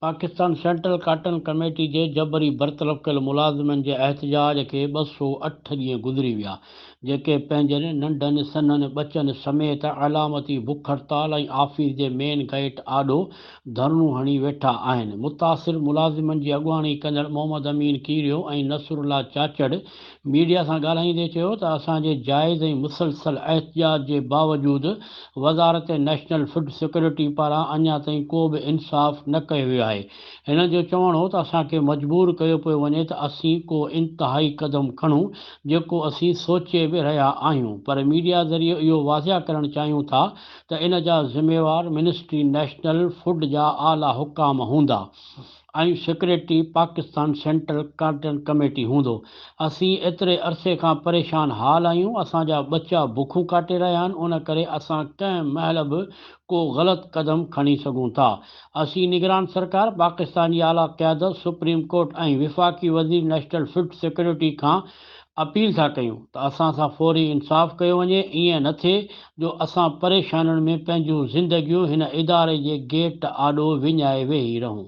Pakistan central cotton committee جي جبري برطرف ڪيل ملازمن جي احتجاج کي ٻه سؤ اٺ ڏينهن گذري ويا جيڪي پنهنجن ننڍن سنهن ٻچن سميت علامتي بک هڙتال ۽ آفيس جي مين گئٽ آڏو ڌرڻو هڻي ويٺا آهن. متاثر ملازمن جي اڳواڻي ڪندڙ محمد امين ڪيريو ۽ نصرالله چاچڙ ميڊيا سان ڳالهائيندي چيو ته اسان جي جائز ۽ مسلسل احتجاج جي باوجود وزارت نيشنل فوڊ سيڪيورٽي پاران اڃا تائين ڪو به انصاف نه ڪيو ويو آهي هن جو چوڻ هو ته اسان کي مجبور ڪيو پيو وڃي ته اسين ڪو انتهائي قدم کڻون جيڪو اسين سوچي به رهيا آهيون پر ميڊيا ذريعي اهو واضح ڪرڻ چاهيون ٿا ته ان جا ذميوار منسٽري نيشنل فوڊ جا اعليٰ حڪام هوندا ۽ secretary Pakistan central cotton committee هوندو اسين ايتري عرصي کان پريشان حال آهيون اسان جا ٻچا بکون ڪاٽي رهيا آهن ان ڪري اسان ڪنهن مهل به ڪو غلط قدم کڻي سگهون ٿا اسين نگران سرڪار، پاڪستان جي اعليٰ قيادت، سپريم ڪورٽ ۽ وفاقي وزير نيشنل فوڊ سيڪيورٽي کان اپيل ٿا ڪيون ته اسان سان فوري انصاف ڪيو وڃي، ائين نه ٿئي جو اسان پريشانين ۾ پنهنجون زندگيون هن اداري جي گيٽ آڏو وڃائي ويهي رهون.